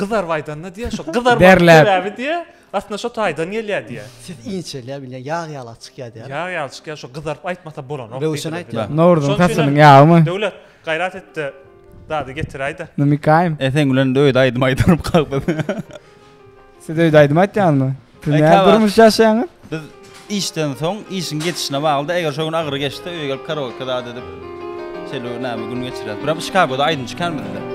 Gyzaryp aýdanda diýýär, şo gyzarmagyň Derläp. sebäbi diýýär, aslynda şo taýdan gelýär diýýär. Ses inçelýär bilýän, ýag ýalak çykýar diýýär. Ýag ýaly çykýar, şo gyzaryp aýtmasa bolanok. Röwşen diýdiler. aýtýar. Nowruzyň Şonuň üçin hem- saçynyň ýagymy? Döwlet, gaýrat et-de, dady getiräý-de. Numykaýym. Eseň bilen öýde aýdym aýdylyp galdy. Siz öýde aýdym aýtýaňyzmy? Siz näme durmuş ýaşaýaňyz? Biz işden soň, işiň geçişine baglyda, eger şo gün agyry geçse, öýe gelip karaoke zat edip, şeýle näme gün geçirýäs. Birap Şikagoda aýdym çykan bizde.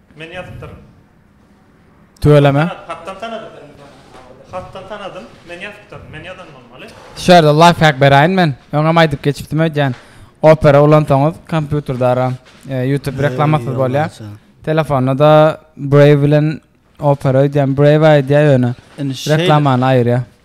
Men ýazypdyryn. Tüweleme. Hatdan tanadym. Hatdan tanadym. Men ýazypdyryn. Men ýazan bolmaly. Şu ýerde lifehack beräýin men. Öňem aýdyp geçipdim öýdýän. Opera ulansaňyz kompýuterdara YouTube reklamasyz bolýar. Telefonda-da Brave bilen Opera öýdýän. Brave aýdýar ýöne reklamany aýyrýar.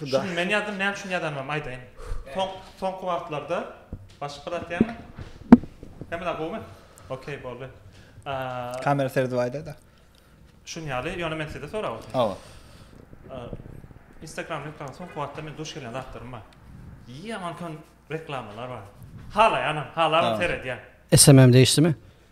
Şuny men ýazdym, näme üçin ýazanymam aýdaýyn. Soň, soňky wagtlarda başga zat diýäňmi? Hemme zat gowumy? Okey, boldy. Aaa. Kamera seredip aýdaýda. Şuny ýaly, ýöne men sizde sorap otyryn. Hawa. Instagram reklamyna soňky wagtda men duş gelýän zatlarym bar. Ýaman kän reklamalar bar. Halaýanam, halabam seredýän. SMM-de işdimi?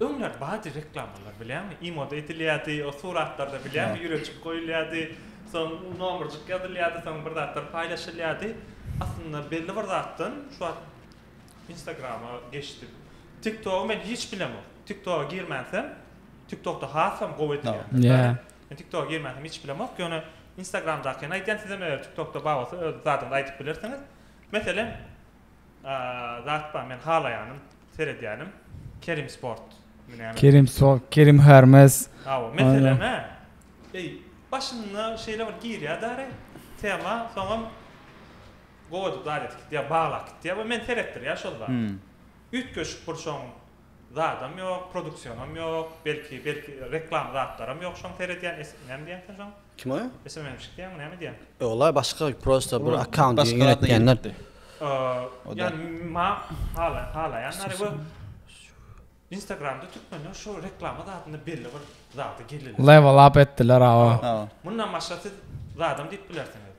Öňler bady reklamalar bilýäňmi imoda edilýärdi o suratlarda bilýäňmi ýüreçik goýulýardy soň nomerjik ýazylýardy soň bir zatlar paýlaşylýardy aslynda belli bir zatdan şu wagt instagrama geçdim tik togy men hiç bilemok tik toga girmänsem tik tokda hasam gowy edilýär men tik toga girmänsem hiç bilemok ýöne instagramdakyny aýdýan sizem eger tik tokda bar bolsa öz zadyňyzy aýdyp bilersiňiz meselem Zat bar men halaýanym seredýänim Kerim sport mi näme. Kerim sport Kerim hermes. Hawa mesele nä eý başynda şeýle bir girýä dary tema soňam gowy zat edip gitýä baglap gitýä we men seretdirýä şol zat üýtgeşik bir şoň zadam ýok produksionam ýok belki belki reklama zatlaram ýok şoň seredýän es näme diýýän sen şoň. Kime? Sms çykýamy näme edýäň? Ýoglaý başga prosta bir akkaunt diýen ýöretýänler. Ýani ma hala halaýanlary we Instagramda türkmenler şu reklama zatynda belli bir zada gelirler. Level up etdiler awa. Mundan başga siz zadam diýip bilersiňiz.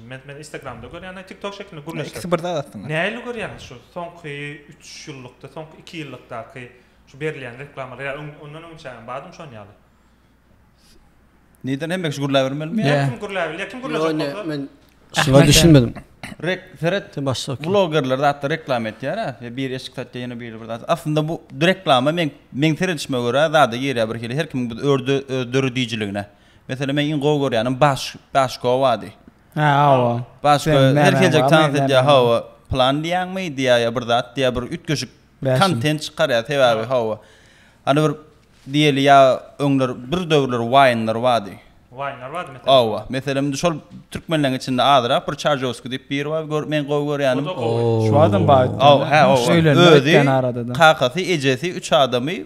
Men men Instagramda görýän, aý TikTok şeklinde gürleşýär. Ikisi bir zat aslynda. Nähili görýäňiz şu soňky üç ýyllykda, soňky iki ýyllykdaky şu berilýän reklamalary ýa ondan öňçäňem bardymy şon ýaly? Neden hemme kişi gürläp bilmelimi? Her kim gürläp bilýär, kim gürlejek bolsa. Men şuňa düşünmedim. Rek, seret, blogerler zatda reklama etýär-ä, ýa biri eşik satýar, ýene biri bir zat. Aslynda bu reklama men, meň seredişime görä zada girýär birhili, her kimiň öz döredijiligine. Meselem men iň gowy görýänim baş başko bady. Hä hawa. Başko her geljek tans edýär hawa. Plan diýäňmi diýär ýa bir zat diýär bir üýtgeşik kontent çykarýar sebäbi hawa. Hany bir diýeli ýa öňler bir döwürler waýnlar bady. Waýnlar bady meselem. Hawa. Meselem indi şol türkmenleriň içinde azyrak bir çarjowski diýip biri bar gör men gowy görýänim. Şu adam bady. Hawa. Özi kakasy ejesi üç adamy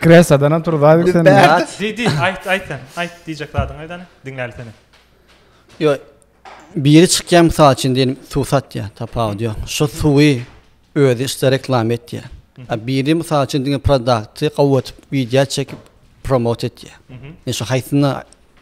Kresadan otur Zaýbek sen. Bert. Diý diý aýt aýt sen aýt diýjek zadyňy aýdany diňläli seni. Ýo biri çykýar mysal üçin diýelim suw satýar tapawudy ýok şo suwy özi işte reklama etýär a biri mysal üçin diňe prodakty gowy atyp widýa çekip promot etýär men şo haýsyna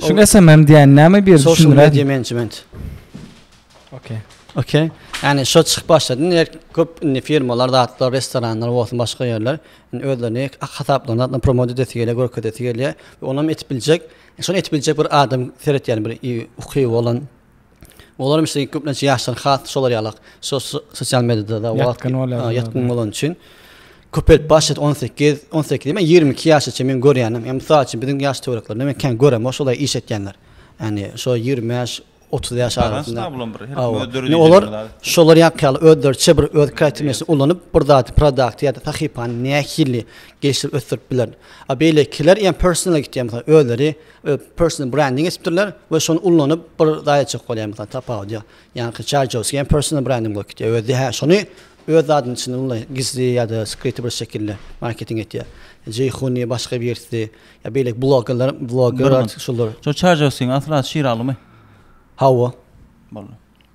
Şu SMM diýen näme bir düşündiräýiň. Social media management. Okey. Okey. Yani şu çykyp başladyň, her köp indi firmalar, zatlar, restoranlar bolsun, başga ýerler indi özlerini hasaplaryny atlan promote edesi gelýär, görkezesi gelýär. Onam etip biljek, şonu etip biljek bir adam seretýän bir uky bolan Olar hem şeýle köplenç ýaşlar has şolar ýaly sosial mediada wagt ýatgyn bolan üçin köpelip başlady 18 18 diýme 22 ýaşa çenli men görýänim. Ýa mysal üçin biziň ýaş töwereklerinde men kän göremok şolay iş etýänler. Ýani şo 25 30 ýaş arasynda. Olar şolar ýaly özleriçe bir öz kreatiwnyýetini ulanyp bir zat produkt ýa-da sahypany nähili gelişdirip ösdürip biler. A beýlekiler ýa personal gitýär özleri Personal branding etipdirler we şony ullanyp bir zat etjek bolýar mesalan tapawut ýok. Ýaňky Çarjowskiý hem personal branding bolup gidýär. Özi hä şony öz zadynyň içinde ullaý gizli ýa-da skryty bir şekilde marketing etýär. Jeýhuni başga birisi ýa beýleki blogerler bloger şular. Şu Çarjowskiň asly ady Şiralymy? Hawa. Boldy.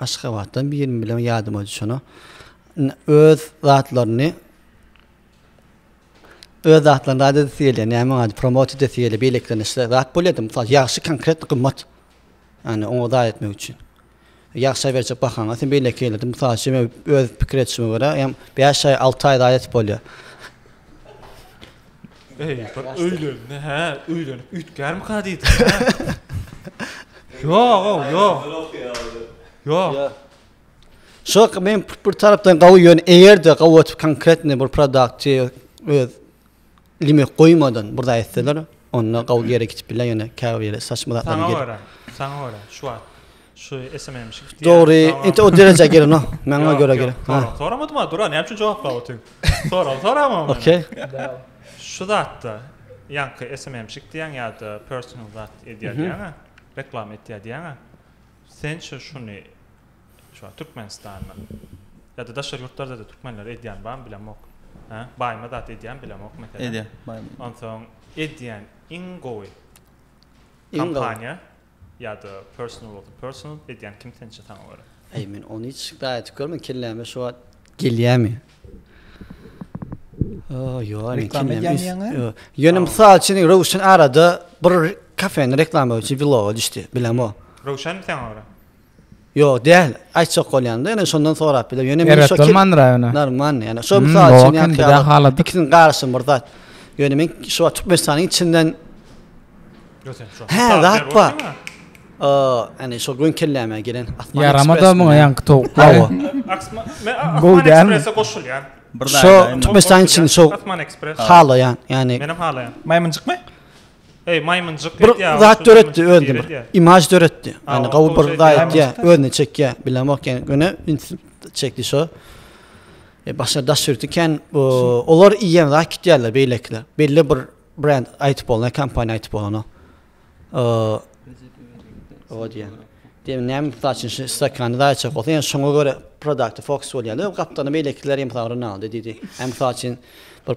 Aşgabatdan birini bilen ýadyma düşenok. Öz zatlaryny öz zatlaryny rad edesi gelýär. Näme ady promot edesi gelýär. Beýlekilerine şeýle zat bolýardy. Mysal ýagşy konkret gymmat. Ýani oňa zat etmek üçin. Ýagşa berjek bahaňa sen beýleki ýerde mysal üçin öz pikir etişime görä, ýa 5 aý, 6 aý zat edip bolýar. Eý, bir öýlenini, hä, öýlenip üýtgärmika diýdim, hä? Ýog-ow, ýok. Ýok. Şo men bir tarapdan gawy ýöne eger-de gawy otup konkretny bir produktçy öz limek goýmadan bir zat etseler, onda gawy ýere gidip biler ýöne käbir ýere saçma zatlar. Saňa görä, saňa görä şu wagt Şu SMM şi gitýär. Dogry, indi o derejä gelen o. Maňa görä gelen. Soraw, soramadym a, dura, näme üçin jogaplap otyň? Soraw, sorama meni. Okey. Şu zatda, ýaňky SMM şi gitýäň ýa-da personal zat edýär diýýäň-ä, reklama etýär diýýäň-ä. Sençe şuny, şu wagt Türkmenistanda ýa-da daşary ýurtlarda-da türkmenler edýän barmy bilemok. Hä? Baýma zat edýän bilemok meselem. Edýär, baýma. Onsoň edýän iň gowy kompaniýa ýa-da personal bolsa personal edýän kim sençe saňa görä? Eý men ony hiç gaýa etip görmedim kelläme şu wagt gelýämi? Ýok reklama edýäňmi? Ýöne mysal üçin Röwşen arada bir kafeni reklama üçin vloga düşdi bilemok. Röwşenmi saňa görä? Ýok däl. Aýtjak bolýanda ýöne şondan sorap biler. Ýöne men şo kim? Normal ýöne. Şo mysal üçin ýa-da ikisini garaşym bir zat. Ýöne men şu wagt Türkmenistanyň içinden Hä, zat bar. Ýani şo gün kelläme gelen Asman. Ýaramada muňa ýaňky towuk. Hawa. Bu däl. Şo Türkmenistanyň içinde şo Asman Express. Halaýan, ýani. Menem halaýan. Maýmynjykmy? Eý maýmynjyk bir etýä. Bir zat döretdi özüne bir. Imaj döretdi. Ýani gowy bir zat etýä, özüne çekýä. Bilemok ýani göne çekdi şo. E başga daş ýurty kän olar iýen zat kitýärler beýlekiler. Belli bir brend aýdyp bolna, kompaniýa aýdyp bolana. E o diýen. Diýen näme saçyn şu stakany zat çek bolsa, ýani şoňa görä produkty fokus bolýarlar. Gapdany beýlekiler hem sagryn aldy diýdi. Hem saçyn bir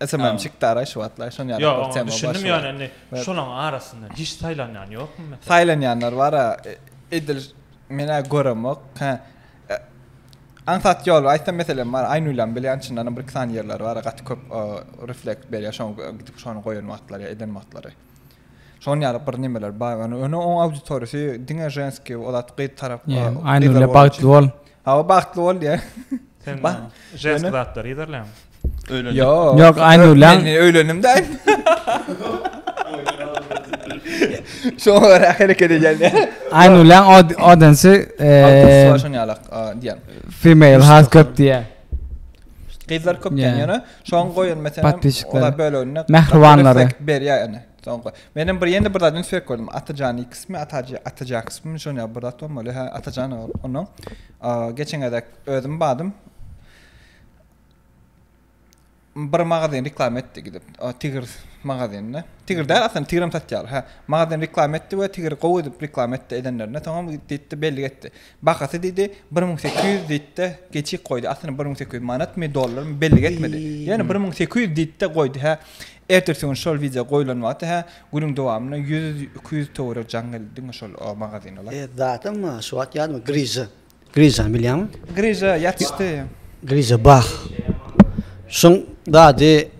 Esemem çykdy ara şu wagtlar şon ýaly bir tema başyma. Düşündim ýöne indi şolaň arasyndan hiç saýlanýan ýokmy meselem? Saýlanýanlar bara edil menä göremok. Hä. Aňsat ýol aýtsam meselem bar. Aýnulam bilýän çyndanam bir iki sany ýerler bar gaty köp reflekt berýär şoň gidip şony goýan wagtlary ýa eden wagtlary. Şoň ýaly bir nimeler bar ýöne ony oň auditoriýasy diňe ženskiý o zat gyz tarap gyzlar bagtly bol. Hawa bagtly bol diýä. Sen ženskiý zatlary ýerleň. Öýlen. Ýok, aýnurlaň. Men öýlendim däl. Şoňa görä hereket edýän. Aýnurlaň odansy eee. Şoň ýalak diýen. Female has köp diýä. Gyzlar köp diýen ýöne. Şoň goýun meselem ola bölünde mähribanlary berýär ene. Şoň goý. Menem bir ýene bir zat üns berip gördüm. Atajan ikismi, Ataja, Ataja kysmy şoň ýa bir zat bolmaly. Ha, Atajan onuň. Geçen gezek özüm badym. Bir magazin reklam etdi gidip. O Tigr magazinine. Tigr däl aslynda Tigrim satýar. Ha, magazin reklam etdi we Tigr gowy edip reklam etdi edenlerine. Soňam gitdi belli etdi. Bahasy diýdi, bir müň sekiz ýüz diýdi-de, geçip goýdy. Aslynda bir müň sekiz ýüz manatmy, dollarmy, bellik etmedi. Ýöne bir müň sekiz ýüz diýdi-de goýdy, hä. Ertesi gün şol wideo goýlan wagty, hä, günüň dowamynda ýüz, iki ýüz töweregi jaň geldi diňe şol magazina lar. Zadyň şu wagt ýadymy, Griža. Grižany bilýäňmi? Griža ýatyşdy. Griža Bah. Şuň zady.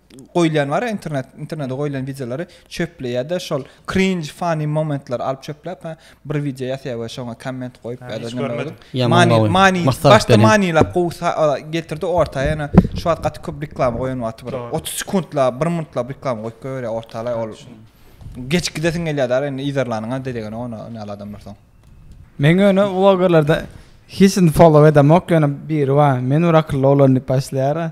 goýulýan bar internet internete goýulan wideolary çöpleýärde şol krinj funny momentlary alyp çöpläp bir wideo ýasaýar we şoňa komment goýup many many başda manylap gowsa getirdi orta ýana şu wagt gaty köp reklama goýan wagty bir otuz sekuntla bir minutlap reklama goýup goýberýär ortalaý ol geç gidesiň gelýär da indi yzarlanyňa delegeni ona näle adamlar soň men ýöne blogerlerde hiç follow edemok ýöne biri bar men bir akylly oglan diýip başlaýar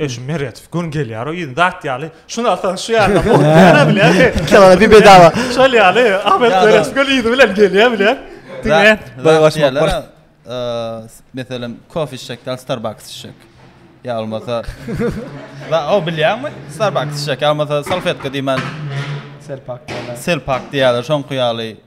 Eşim Meredow gün gelýär o ýyl dat ýaly. Şuny alsaň şu ýerde bol. Näme bilýär? Kela bir bedawa. Şol ýaly Ahmet Meredow gün ýyly bilen gelýär bilýär. Diňe boý başmak bar. Meselem kofe içjek ýa Starbucks içjek. Ýa bolmasa. Wa o bilýärmi? Starbucks içjek ýa bolmasa salfetka diýmän. Selpak diýýärler. Selpak diýýärler şoňky ýaly.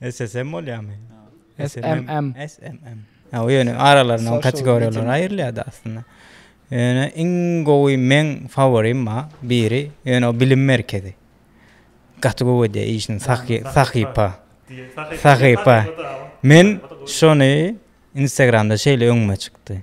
SSM bolýamy? SMM. SMM. Ha, o ýöne aralarynda kategoriýalar aýrylýar aslynda. Ýöne iň gowy men favorim ma biri, ýöne o bilim merkezi. Gaty gowy edýär işini sahypa. Sahypa. Men şony Instagramda şeýle öňüme çykdy.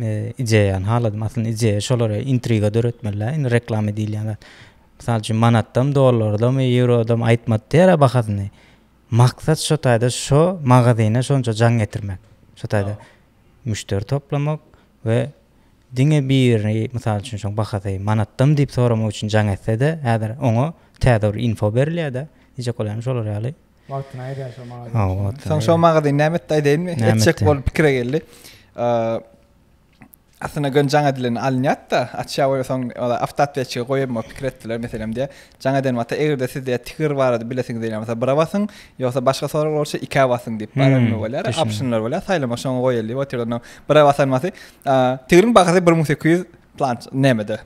Ideýa ýany haladym. Aslynda ideýa şolara intriga döretmeli-dä. Indi reklama diýilýän zat. Mysal üçin manatdam, dollardam, ýewrodam aýtmady diýer-ä bahasyny. Maksat şo taýda şo magazyna şonça jaň getirmek. Şo taýda müşderi toplamak we diňe birini, mysal üçin şoň bahasy manatdam diýip soramak üçin jaň etse-de, häzir oňa täze bir info berilýär-dä. Diýjek bolýanym şolar ýaly. Wagtyny aýda şo magazyn. Soň şo magazyn näme etdi aýdaýynmy? Etjek bolup pikire geldi. Aslynda gön jaň edilen alynýat-da, açýa we soň ola awtoatwetçige goýaýma pikir etdiler meselem diýä. Jaň eden wagty eger-de siz diýä tigir barada bilesiňiz diýen bolsa bira basyň, ýogsa başga sorag bolsa ikä basyň diýip baranyny bolýar. Optionlar bolýar, saýlamak şoňa goýaýyl diýip otyr onda. Bira basan wagty tigiriň bahasy 1800 planç nämede.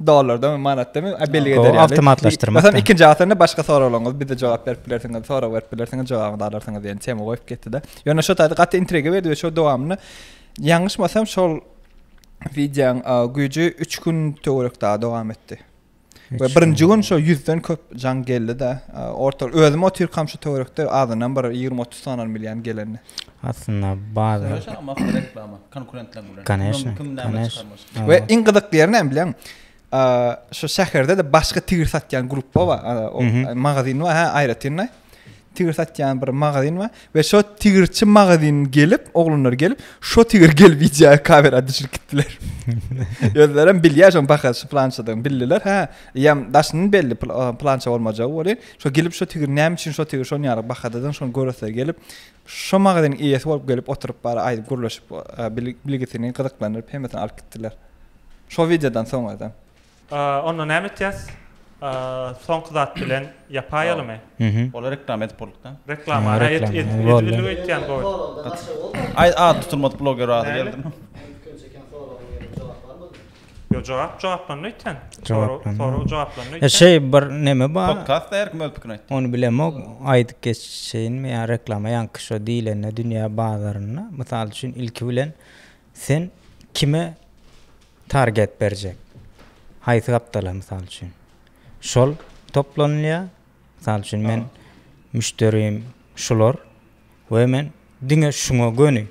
dollardan we manatdan we bellige eder ýaly. Awtomatlaşdyrmak. Sen ikinji asyny başga soraglaryňyz bize jogap berip bilersiňiz, sorag berip bilersiňiz, jogabyny alarsyňyz diýen tema goýup getdi-de. Ýöne şu taýda gaty intriga berdi we şol dowamyny ýalňyşmasam şol wideoň güýji 3 gün töwerek daha dowam etdi. We birinji gün şo 100-den köp jaň geldi-de, orta özüm otyrkam şu töwerekde azyndan bir 20-30 sanan milýan geleni. Aslynda bazar. Söweş almak reklama konkurentleň bilen. Koneşne. Kim näme çykarmyş. We iň gyzykly ýeri näme bilýäň? Şu şäherde-de başga tigir satýan grupba bar. O magazin bar, hä, aýratynda. Tigir satýan bir magazin bar we şo tigirçi magazin gelip, oglanlar gelip, şo tigir gelip iýjä kamera düşürip gitdiler. Özlerem bilýär şoň bahasy plançadan bildiler, hä. Ýam daşyndan belli plança bolmajagy welin, şo gelip şo tigir näme üçin şo tigir şonýaly bahadadygyny şony göreser gelip, Şo magazynyň eýesi bolup gelip oturyp bar aýdyp gürleşip bilgisini gyzyklandyryp hemmesini alyp gitdiler. Şo wideodan soň özem. Onda näme etýäs? Soňky zat bilen ýapaýalymy? Ola reklama edip bolduk da. Reklama edilip öýtýän gowy. Aý ady tutulmadyk bloger ady geldi. Yo jogap jogaplandy öýtýän. Jogaplandy. Sorag jogaplandy öýtýän. Şeý bir neme bar. Podkastda her kim öz pikirini aýtdy. Ony bilemok. Aýdyp geçeýinmi ýa reklama ýaňky şo diýlende dünýä bazarynda mysal üçin ilki bilen sen kime target berjek? Haýsy gapdala mysal üçin? Şol toplanylýar Mysal üçin, men müşderim şular we men diňe şuňa göni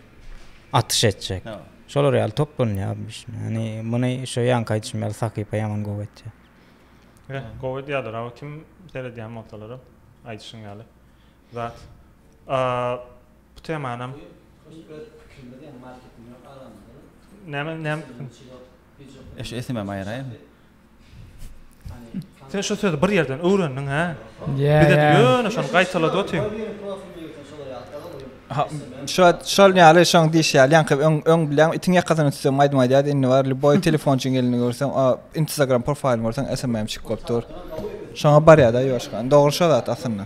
atyş etjek. Şolar ýaly toplanýar. Ýani muny şu ýanky aýdyşym ýaly sahypa ýaman gowy etýär. Eh, gowy edýärler. Awa kim seredýän bolsalar, aýdyşyň ýaly. Zat. A, bu temanam Näme, näme? Eş, esemem aýraýyn. Sen şu sözi bir ýerden öwrendiň hä? Bize ýöne şony gaýtalady otyň. Şo şol ýaly şoň diýişi ýaly ýaňky öň öň bilýän itiň ýakasyny tutsam aýdym aýdýardy indi bar lýuboý telefonçyň elinde görseň a instagram profaýlyny görseň smm çykyp bolup dur. Şoňa barýarda ýuwaşka. Dogry şo zat aslynda.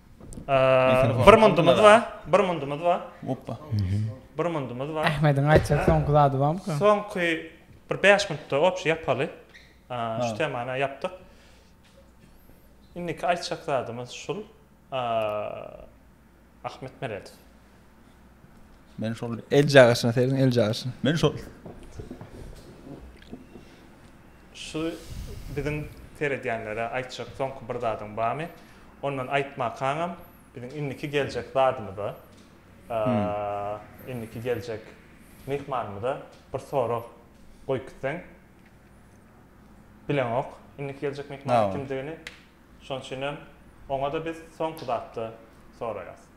Bir mundumyz bar, bir mundumyz bar. Oppa. Bir mundumyz bar. Ahmediň aýtjak soňky zady barmyka? Soňky bir bäş mundda obşi ýapaly. Şu temany ýapdyk. Indiki aýtjak zadymyz şul. Ahmet Meredow. Men şol el jagaşyna serin el jagaşyna. Men şol Şu biziň seredýänlere aýtjak soňky bir zadyň barmy? Ondan aýtmakaňam biziň indiki geljek zadymyza indiki geljek myhmanymyza bir sorag goýup gitseň. Bileňok indiki geljek myhmanyň kimdigini. Şonuň üçinem oňa-da biz soňky zatda soraýas.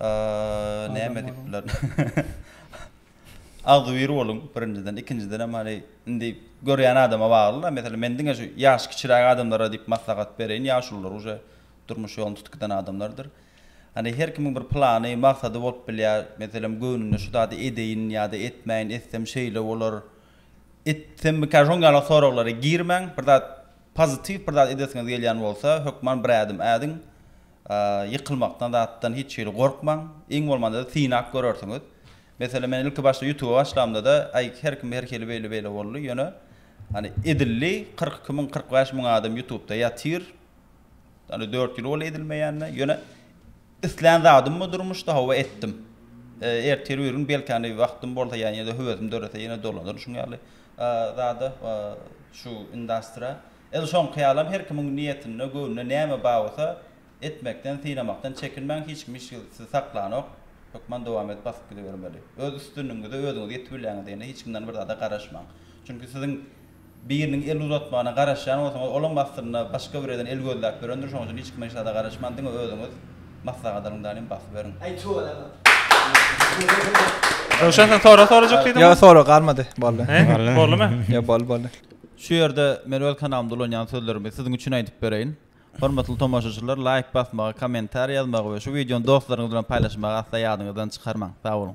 Aaa näme edip bular. Agzybir boluň birinjiden ikinjidenem hany indi görýän adama bagly da meselem men diňe şu ýaşy kiçiräk adamlara diýip maslahat bereýin ýaşulylar uje durmuş ýoluny tutuk eden adamlardyr hany her kimiň bir plany maksady bolup bilýär meselem göwnüne şu zady edeýin ýada etmäýin etsem şeýle bolar etsemmikä şoň ýaly soraglara girmäň bir zat pozitiw bir zat edesiňiz gelýän bolsa hökman bir ädim ädiň Ýykylmakdan zatdan hiç hili gorkmaň. Iň bolmanda synap görersiňiz. Meselem men ilki başda ýutuba başlamdada aý her kim her hili beýle beýle boldy ýöne hany edildi kyrk iki müň kyrk bäş müň adam ýutubda ýatyr hany dört ýyl boldy edilmeýänine ýöne islän zadymmy durmuşda hawa etdim ertir bir gün belki hany wagtym bolsa ýa ýene höwesim dörese ýene dolanaryn şuň ýaly zada şu indastra Edil şoňky ýalam her kimiň niýetinde, göwnüne näme bar bolsa, etmekden, synamakdan çekinmäň, hiç kim hiç gezek sizi saklanok, hökman dowam edip basyp gidibermeli. Öz üstünligiňize özüňiz ýetip bilýäňiz diýende hiç kimden bir zada garaşmaň. Çünki siziň biriniň el uzatmagyna garaşýan bolsaňyz, olam aslynda başga bireden el gözläp ýörendir, şonuň üçin hiç kimden hiç zada garaşman diňe özüňiz maslahat alyň danem basyberiň. Aý tüweleme. Röwşen sen sorag sorajak diýdiňmi? Ýok sorag galmady boldy. He boldymy? Ýok boldy boldy. Şu ýerde men öz kanalymda ulanýan sözlerimi siziň üçin aýdyp bereýin. Hormatly tomaşaçylar, laýk basmagy, kommentariýa ýazmagy we şu wideony dostlaryňyz bilen paýlaşmagy asla ýadyňyzdan çykarmaň. Sag boluň!